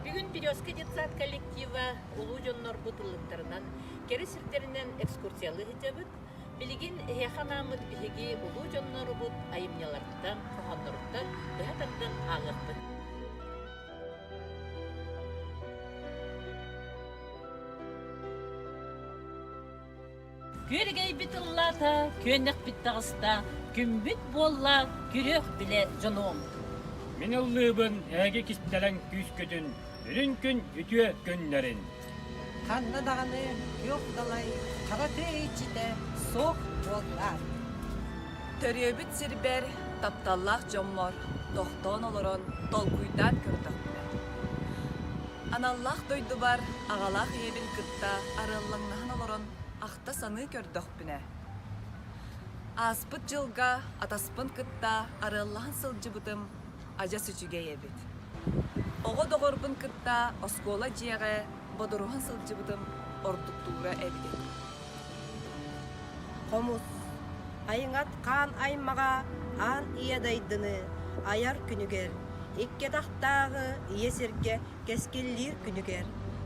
Бүгүн Березка детсад коллектива улуу дьоннорбут ыллыктарынан кэрэ сирдэринэн экскурсиялыы сылдьабыт. Билигин эһиэхэ анааммыт биһиги улуу дьоннорубут айымньыларыттан, хоһоонноруттан быһа тардан ааҕыахпыт. Күөргэйбит ыллаата, күөннэхпит таҕыста, күмбүт буолла, күрүөх билэ дьонуом. Мин ыллыыбын эһиги кистэлэҥ күүскүтүн, үрүн күн үтүө күннэрин. Ханна даҕаны күөх далай хара тыа иччитэ суох буоллар. Төрүөбүт сирбэр тапталлаах дьоммор тохтоон олорон толкуйдаан көрдөхпүнэ. Аналлаах дойдубар аҕалаах ийэбин кытта арыаллаҥнаһан олорон ахта-саныы көрдөхпүнэ, ааспыт дьылга атаспын кытта арыаллаһан сылдьыбытым адьас үчүгэй эбит. Оҕо доҕорбун кытта оскуола дьиэҕэ бодоруһан сылдьыбытым ордуктуура эбит. Хомус Айыҥат хаан аймаҕа аан ийэ дайдыны айар күнүгэр, иккиэтэхтээҕи ийэ сиргэ кэскиллиир күнүгэр,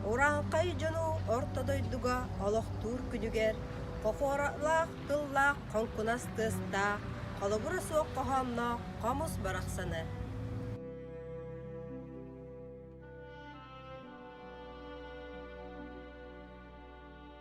Ураанхай дьону орто дойдуга олохтуур күнүгэр, хохуоралаах тыллаах хоҥкунас тыастаах, холобура суох хоһоонноох хомус барахсаны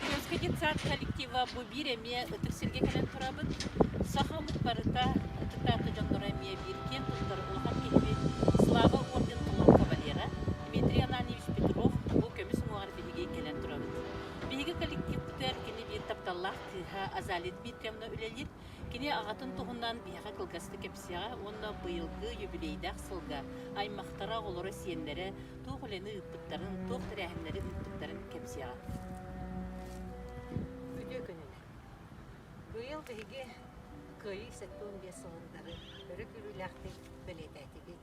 Кырыыска детсад коллектива бу биир эмиэ ытык сиргэ кэлэн турабыт. Саха омук барыта ытык таата дьонноро эмиэ биир киэн туттар улахан киһибит, Слава орден Кулун кавалера Дмитрий Ананьевич Петров бу көмүс уҥуоҕар биһиги кэлэн турабыт. Биһиги коллективпытыгар кини биир тапталлаах кыыһа Азалия Дмитриевна үлэлиир. Кини аҕатын туһунан биһиэхэ кылгастык кэпсиэҕэ уонна быйылгы юбилейдаах сылга аймахтара, оҕолоро-сиэннэрэ туох үлэни ыыппыттарын, туох тэрээһиннэри ыыппыттарын кэпсиэҕэ. Үтүө күнүнэн! Быйыл биһиги Кыайыы сэттэ уон биэс сылын утары өрө күүрүүлээхтик бэлиэтээтигит,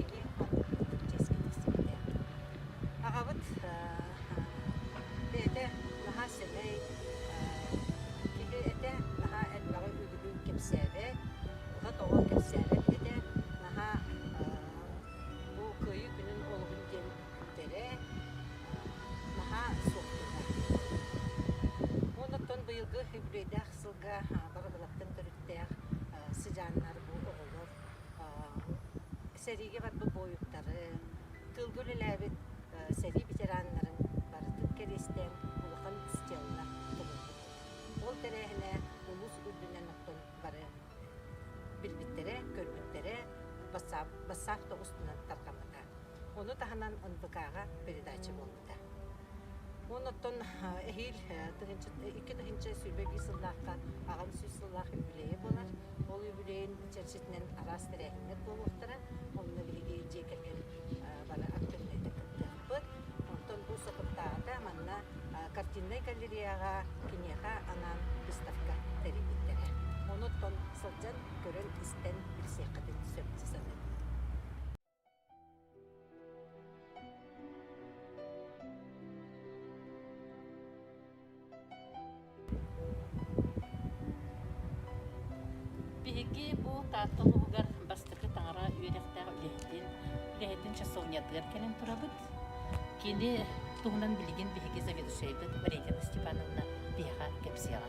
илиим-атым чэскэ тиксибитэ. Аҕабыт бэйэтэ наһаа сэмэй киһи этэ, наһаа элбэҕи үгүлүүн кэпсээбэт, ото-тоҕо кэпсээбэт этэ, наһаа бу Кыайыы күнүн олугун диэн бүтэрэ, наһаа суохтанар. Оннуктан быйылгы юбилейдаах сылга бары балаттан төрүттээх сыдьааннар бу оҕолор сэриигэ барбыт буойуттарын, тылга үлэлээбит сэрии ветераннарын барытын кэриэстээн улахан стеллар толорбут. Ол тэрээһинэ улуус үрдүнэн охтон бары билбиттэрэ, көрбүттэрэ бассаап тоҕустунан тарҕаммыта. Ону таһынан НПК-га передача буолла. Уонна оттон эһиил икки тыһыынча сүүрбэ биир сыллаахха аҕам сүүс сыллаах юбилейа буолар. Ол юбилейын чэрчитинэн араас тэрээһиннэр буолуохтара. Онно биһиги дьиэ кэргэн бары актыыбынайга кыттыахпыт. Оттон бу сокуттааҕыта манна картиннай галереяҕа, киниэхэ анаан выставка тэрийбиттэрэ. Ону оттон сылдьан, көрөн-истэн билсиэххитин сөпсө саныыбын. Биһиги бу Таатта улууһугар бастакы таҥара үөрэхтээх үлэһитин үлэһитин часовнятыгар кэлэн турабыт. Кини туһунан билигин биһиги заведующайбыт Варенька Степановна биһиэхэ кэпсиэҕэ.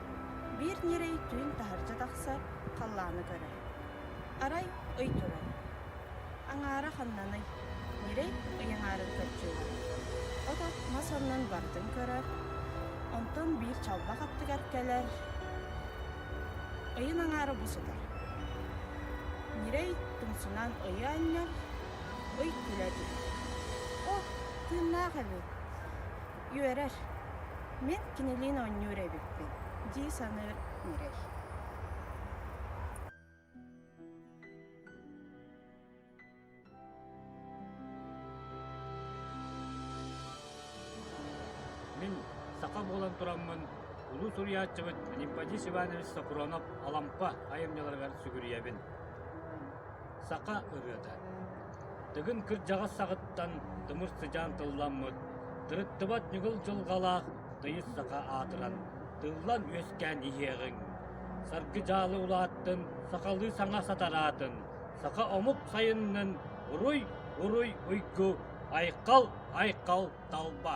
Биир ньирэй түүн таһырдьа тахсар, халлааны көрөр. Арай ый турар. Аҥаара ханнаный? Ньирэй ыйаҥаарын көччүйдэ. Ото мас оннун барытын көрөр. Онтон биир чалбах аттыгар кэлэр. Ыйын аҥаара бу сытар. Ньирэй тумсунан ыйы анньар, ый күлэ түһэр. О, тыыннаах эбит. Үөрэр. Мин кинилиин оонньуур эбиппин дии саныыр Мирэй. Мин саха буолан тураммын улуу суруйааччыбыт Нипподис Иванович Сокуронов Алампа айымньыларыгар сүгүрүйэбин. Саха ырыата Тыгын кырдьаҕас саҕаттан тымыр сыдьаан тылламмыт, тырыттыбат ньыгыл дьылҕалаах тыйыс саха аатыран, тыллан-үөскээн иһиэҕиҥ. Саргы дьаалы улааттын, сахалыы саҥа сатараатын, саха омук сайыннын, уруй-уруй уйгу, айхал-айхал талба!